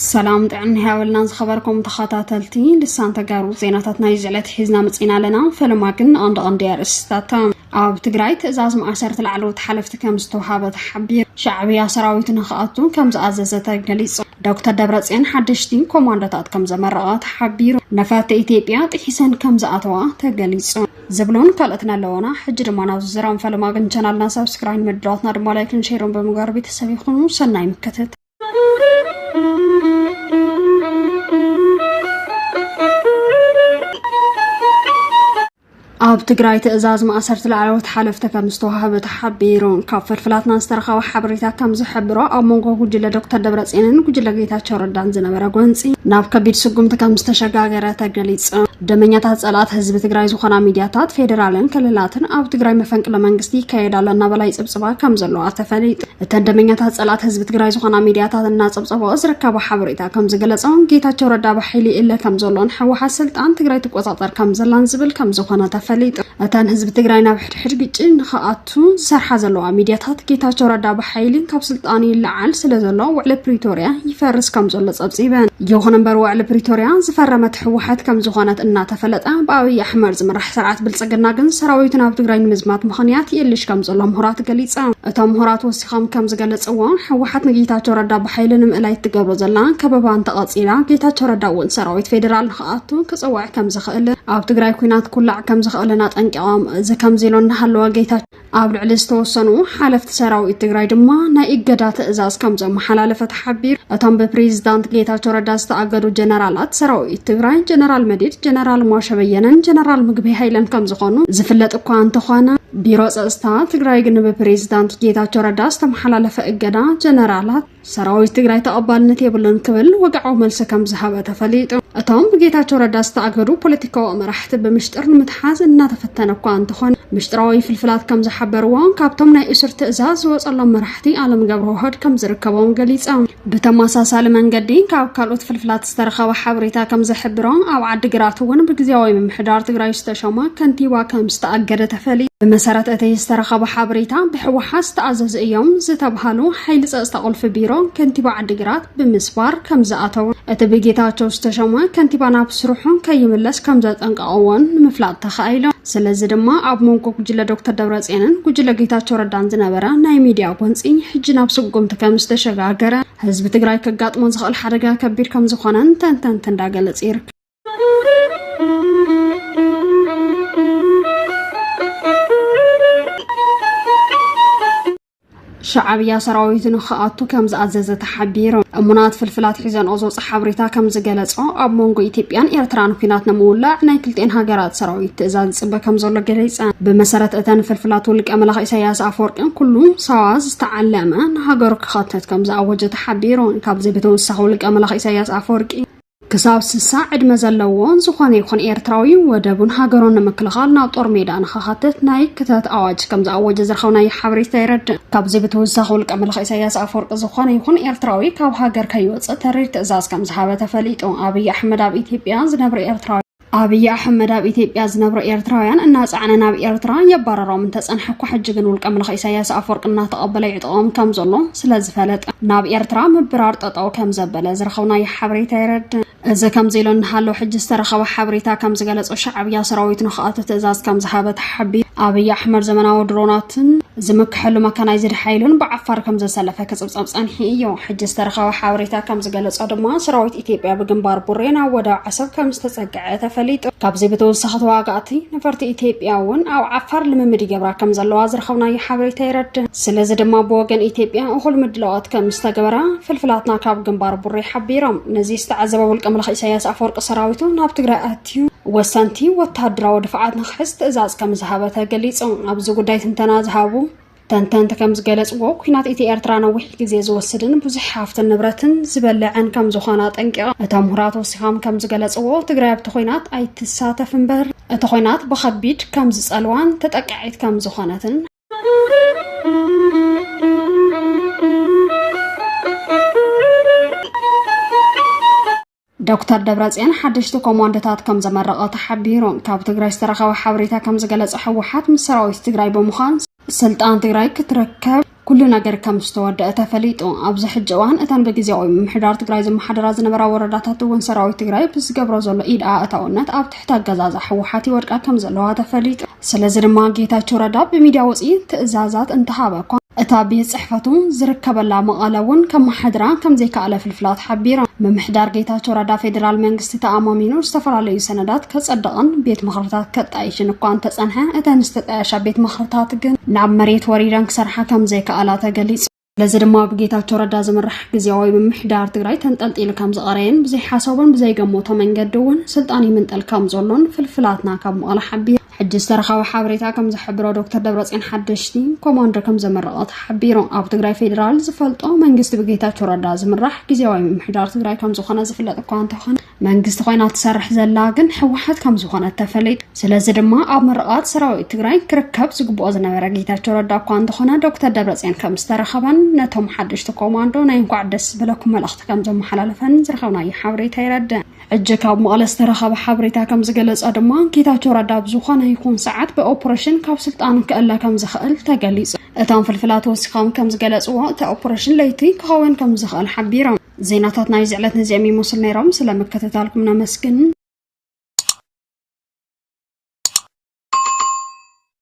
ሰላም ጥዕና ያበልና ዝኸበርኩም ተኸታተልቲ ልሳን ተጋሩ ዜናታት ናይ ዝዕለት ሒዝና መፂና ኣለና ፈለማ ግን ንቐንዲ ቀንዲ ኣርእስታት ኣብ ትግራይ ትእዛዝ ማእሰርቲ ላዕለዎት ሓለፍቲ ከም ዝተውሃበ ተሓቢሩ ሻዕብያ ሰራዊት ንክኣቱ ከም ዝኣዘዘ ተገሊፁ ዶክተር ደብረፅዮን ሓደሽቲ ኮማንዶታት ከም ዘመረቐ ተሓቢሩ ነፈርቲ ኢትዮጵያ ጥሒሰን ከም ዝኣተዋ ተገሊፁ ዝብሉን ካልኦትን ኣለዎና ሕጂ ድማ ናብዚ ዝራም ፈለማ ግን ቻናልና ሰብስክራይን መድረዋትና ድማ ላይክን ሼርን ብምግባር ቤተሰብ ይኹኑ ሰናይ ምክትት ኣብ ትግራይ ትእዛዝ ማእሰርቲ ላዕለዎት ሓለፍቲ ከም ዝተዋህበ ተሓቢሩ። ካብ ፍልፍላትና ዝተረኸበ ሓበሬታ ከም ዝሕብሮ ኣብ መንጎ ጉጅለ ዶክተር ደብረፅዮንን ጉጅለ ጌታቸው ረዳን ዝነበረ ጎንፂ ናብ ከቢድ ስጉምቲ ከም ዝተሸጋገረ ተገሊፁ። ደመኛታት ጸላእት ህዝቢ ትግራይ ዝኾና ሚድያታት ፌዴራልን ክልላትን ኣብ ትግራይ መፈንቅለ መንግስቲ ይካየድ ኣሎ እናበላ ይጽብጽባ ከም ዘለዋ ተፈሊጡ እተን ደመኛታት ጸላእት ህዝቢ ትግራይ ዝኾና ሚድያታት እናጸብጸበኦ ዝርከባ ሓበሬታ ከም ዝገለጾ ጌታቸው ረዳ ብሓይሊ ይእለ ከም ዘሎን ህወሓት ስልጣን ትግራይ ትቆጻጸር ከም ዘላን ዝብል ከም ዝኾነ ተፈሊጡ። እተን ህዝቢ ትግራይ ናብ ሕድሕድ ግጭት ንክኣቱ ዝሰርሓ ዘለዋ ሚድያታት ጌታቸው ረዳ ብሓይሊ ካብ ስልጣኑ ይለዓል ስለ ዘሎ ውዕሊ ፕሪቶርያ ይፈርስ ከም ዘሎ ጸብጺበን። ይኹን እምበር ውዕሊ ፕሪቶርያ ዝፈረመት ህወሓት ከም ዝኾነት እናተፈለጠ ብኣብይ ኣሕመድ ዝምራሕ ስርዓት ብልጽግና ግን ሰራዊቱ ናብ ትግራይ ንምዝማት ምኽንያት ይእልሽ ከም ዘሎ ምሁራት ገሊጸም። እቶም ምሁራት ከም ከም ዝገለፅዎ ህወሓት ንጌታቸው ረዳ ብሓይሊ ንምእላይ እትገብሮ ዘላ ከበባ እንተቐፂላ ጌታቸው ረዳ እውን ሰራዊት ፌዴራል ንክኣቱ ክፅውዕ ከም ዝኽእል ኣብ ትግራይ ኩናት ኩላዕ ከም ዝኽእልን ኣጠንቂቖም እዚ ከምዚ ኢሎ እናሃለወ ጌታ ኣብ ልዕሊ ዝተወሰኑ ሓለፍቲ ሰራዊት ትግራይ ድማ ናይ እገዳ ትእዛዝ ከም ዘመሓላለፈ ተሓቢሩ እቶም ብፕሬዚዳንት ጌታቸው ረዳ ዝተኣገዱ ጀነራላት ሰራዊት ትግራይ ጀነራል መዲድ ጀነራል ሟሸበየነን ጀነራል ምግቢ ሃይለን ከም ዝኾኑ ዝፍለጥ እኳ እንተኾነ ቢሮ ፀፅታ ትግራይ ግን ብፕሬዚዳንት ጌታቸው ረዳ ዝተመሓላለፈ እገዳ ጀነራላት ሰራዊት ትግራይ ተቐባልነት የብሉን ክብል ወግዓዊ መልሲ ከም ዝሃበ ተፈሊጡ። እቶም ብጌታቸው ረዳ ዝተኣገዱ ፖለቲካዊ መራሕቲ ብምሽጥር ንምትሓዝ እናተፈተነ እኳ እንተኾነ ምሽጥራዊ ፍልፍላት ከም ዝሓበርዎ ካብቶም ናይ እሱር ትእዛዝ ዝወፀሎም መራሕቲ ኣለም ገብረዋህድ ከም ዝርከቦም ገሊፆም። ብተመሳሳሊ መንገዲ ካብ ካልኦት ፍልፍላት ዝተረኸበ ሓበሬታ ከም ዘሕብሮ ኣብ ዓዲግራት እውን ብግዜያዊ ምምሕዳር ትግራይ ዝተሸማ ከንቲባ ከም ዝተኣገደ ተፈልዩ። ብመሰረት እቲ ዝተረኸበ ሓበሬታ ብሕወሓት ዝተኣዘዙ እዮም ዝተብሃሉ ሓይሊ ፀፅታ ቁልፊ ቢሮ ከንቲባ ዓዲግራት ብምስባር ከም ዝኣተው እቲ ብጌታቸው ዝተሸማ ከንቲባ ናብ ስርሑ ከይምለስ ከም ዘጠንቀቐዎን ንምፍላጥ ተኻኢሎም። ስለዚ ድማ ኣብ መንጎ ጉጅለ ዶክተር ደብረፅዮንን ጉጅለ ጌታቸው ረዳን ዝነበረ ናይ ሚድያ ጎንፂ ሕጂ ናብ ስጉምቲ ከም ዝተሸጋገረ ህዝቢ ትግራይ ከጋጥሞ ዝኽእል ሓደጋ ከቢድ ከም ዝኾነን ተንተንቲ እንዳገለፅ ይርከብ። ሻዕብያ ሰራዊቱ ንክኣቱ ከም ዝኣዘዘ ተሓቢሩ። እሙናት ፍልፍላት ሒዘንኦ ዝወፀ ሓበሬታ ከም ዝገለጾ ኣብ መንጎ ኢትዮጵያን ኤርትራን ኩናት ንምውላዕ ናይ ክልጤን ሃገራት ሰራዊት ትእዛዝ ዝጽበ ከም ዘሎ ገሊጸን። ብመሰረት እተን ፍልፍላት ውልቀ መላኽ ኢሳያስ ኣፈወርቅን ኩሉ ሳዋ ዝተዓለመ ንሃገሩ ክኸትት ከም ዝኣወጀ ተሓቢሩ። ካብዚ ብተወሳኺ ውልቀ መላኽ ኢሳያስ ኣፈወርቂ ክሳብ ስሳ ዕድመ ዘለዎ ዝኾነ ይኹን ኤርትራዊ ወደቡን ሃገሩን ንምክልኻል ናብ ጦር ሜዳ ንኸኻትት ናይ ክተት ኣዋጅ ከም ዝኣወጀ ዝረኸብናዮ ሓበሬታ የረድእ። ካብዚ ብተወሳኺ ውልቀ መላኺ ኢሳያስ ኣፈወርቂ ዝኾነ ይኹን ኤርትራዊ ካብ ሃገር ከይወጽእ ተሪር ትእዛዝ ከም ዝሃበ ተፈሊጡ። ኣብይ ኣሕመድ ኣብ ኢትዮጵያ ዝነብር ኤርትራዊ ኣብይ ኣሕመድ ኣብ ኢትዮጵያ ዝነብሩ ኤርትራውያን እናጸዕነ ናብ ኤርትራ የባረሮም እንተጸንሐ እኳ ሕጂ ግን ውልቀ ምልኺ ኢሳያስ ኣፈወርቂ እናተቐበለ ይዕጥቖም ከም ዘሎ ስለ ዝፈለጠ ናብ ኤርትራ ምብራር ጠጠው ከም ዘበለ ዝረኸብናዮ ሓበሬታ የረድእ። እዚ ከምዚ ኢሉ እንሃሎ ሕጂ ዝተረኸበ ሓበሬታ ከም ዝገለጾ ሻዕብያ ሰራዊት ንክኣቱ ትእዛዝ ከም ዝሃበ ተሓቢሩ። ኣብይ ኣሕመድ ዘመናዊ ድሮናትን ዝምክሐሉ መካናይዝድ ሓይሉን ብዓፋር ከም ዘሰለፈ ክጽብጸብ ጸኒሑ እዩ። ሕጂ ዝተረኸበ ሓበሬታ ከም ዝገለጾ ድማ ሰራዊት ኢትዮጵያ ብግንባር ቡሬ ናብ ወደብ ዓሰብ ከም ዝተፀግዐ ተፈሊጡ። ካብዚ ብተወሳኺ ተዋጋእቲ ነፈርቲ ኢትዮጵያ እውን ኣብ ዓፋር ልምምድ ይገብራ ከም ዘለዋ ዝረኸብናዮ ሓበሬታ የረድእ። ስለዚ ድማ ብወገን ኢትዮጵያ እኹል ምድላዋት ከም ዝተገበረ ፍልፍላትና ካብ ግንባር ቡሬ ሓቢሮም። ነዚ ዝተዓዘበ ውልቀ መላኺ ኢሳያስ ኣፈወርቂ ሰራዊቱ ናብ ትግራይ ኣትዩ ወሰንቲ ወተሃደራዊ ድፍዓት ንክሕዝ ትእዛዝ ከም ዝሃበ ተገሊፁ። ኣብዚ ጉዳይ ትንተና ዝሃቡ ተንተንቲ ከም ዝገለጽዎ ኩናት ኢቲ ኤርትራ ነዊሕ ግዜ ዝወስድን ብዙሕ ሃፍትን ንብረትን ዝበልዕን ከም ዝኾነ ኣጠንቂቖም። እቶም ምሁራት ወሲኾም ከም ዝገለጽዎ ትግራይ ኣብቲ ኩናት ኣይትሳተፍ እምበር እቲ ኩናት ብኸቢድ ከም ዝጸልዋን ተጠቃዒት ከም ዝኾነትን ዶክተር ደብረፅዮን ሓደሽቲ ኮማንዶታት ከም ዘመረቐ ተሓቢሩ ካብ ትግራይ ዝተረኸበ ሓበሬታ ከም ዝገለጸ ህወሓት ምስ ሰራዊት ትግራይ ብምዃን ስልጣን ትግራይ ክትረከብ ኩሉ ነገር ከም ዝተወደአ ተፈሊጡ ኣብዚ ሕጂ እዋን እተን ብግዜያዊ ምምሕዳር ትግራይ ዝመሓደራ ዝነበራ ወረዳታት እውን ሰራዊት ትግራይ ብዝገብሮ ዘሎ ኢድ ኣእታውነት ኣብ እቲ ኣገዛዛ ህወሓት ይወድቃ ከም ዘለዋ ተፈሊጡ። ስለዚ ድማ ጌታቸው ረዳ ብሚድያ ወፂኢ ትእዛዛት እንተሃበ እኳ እታ ቤት ፅሕፈቱ ዝርከበላ መቐለ እውን ከመሓድራ ከም ዘይከኣለ ፍልፍላት ሓቢሮም። ምምሕዳር ጌታቸው ረዳ ፌዴራል መንግስቲ ተኣማሚኑ ዝተፈላለዩ ሰነዳት ከፀደቐን ቤት ምኽርታት ከጣይሽን እኳ እንተፀንሐ እተን ዝተጣየሻ ቤት ምኽርታት ግን ናብ መሬት ወሪደን ክሰርሓ ከም ዘይከኣላ ተገሊፁ። ነዚ ድማ ብጌታቸው ረዳ ዝምራሕ ግዜያዊ ምምሕዳር ትግራይ ተንጠልጢሉ ከም ዝቐረየን ብዘይሓሰቦን ብዘይገመቶ መንገዲ እውን ስልጣን ይምንጠል ከም ዘሎን ፍልፍላትና ካብ መቐለ ሓቢሩ ሕጂ ዝተረኸበ ሓበሬታ ከም ዝሕብሮ ዶክተር ደብረፅዮን ሓደሽቲ ኮማንዶ ከም ዘመረቐ ተሓቢሩ ኣብ ትግራይ ፌዴራል ዝፈልጦ መንግስቲ ብጌታቸው ረዳ ዝምራሕ ግዜያዊ ምምሕዳር ትግራይ ከም ዝኾነ ዝፍለጥ እኳ እንተኾነ መንግስቲ ኮይና ትሰርሕ ዘላ ግን ህወሓት ከም ዝኾነት ተፈሊጡ። ስለዚ ድማ ኣብ ምርቓት ሰራዊት ትግራይ ክርከብ ዝግብኦ ዝነበረ ጌታቸው ረዳ እኳ እንተኾነ ዶክተር ደብረፅዮን ከም ዝተረኸበን ነቶም ሓደሽቲ ኮማንዶ ናይ እንኳዕ ደስ ዝበለኩም መልእኽቲ ከም ዘመሓላለፈን ዝረኸብናዮ ሓበሬታ የረድእ። ሕጂ ካብ መቐለ ዝተረኸበ ሓበሬታ ከም ዝገለጸ ድማ ጌታቸው ረዳ ኣብ ዝኾነ ይኹን ሰዓት ብኦፕሬሽን ካብ ስልጣኑ ክእለ ከም ዝኽእል ተገሊጹ። እቶም ፍልፍላት ወሲኾም ከም ዝገለጽዎ እቲ ኦፕሬሽን ለይቲ ክኸውን ከም ዝኽእል ሓቢሮም። ዜናታት ናይዚ ዕለት ነዚኦም ይመስሉ ነይሮም። ስለ ምክትታልኩም ነመስግን።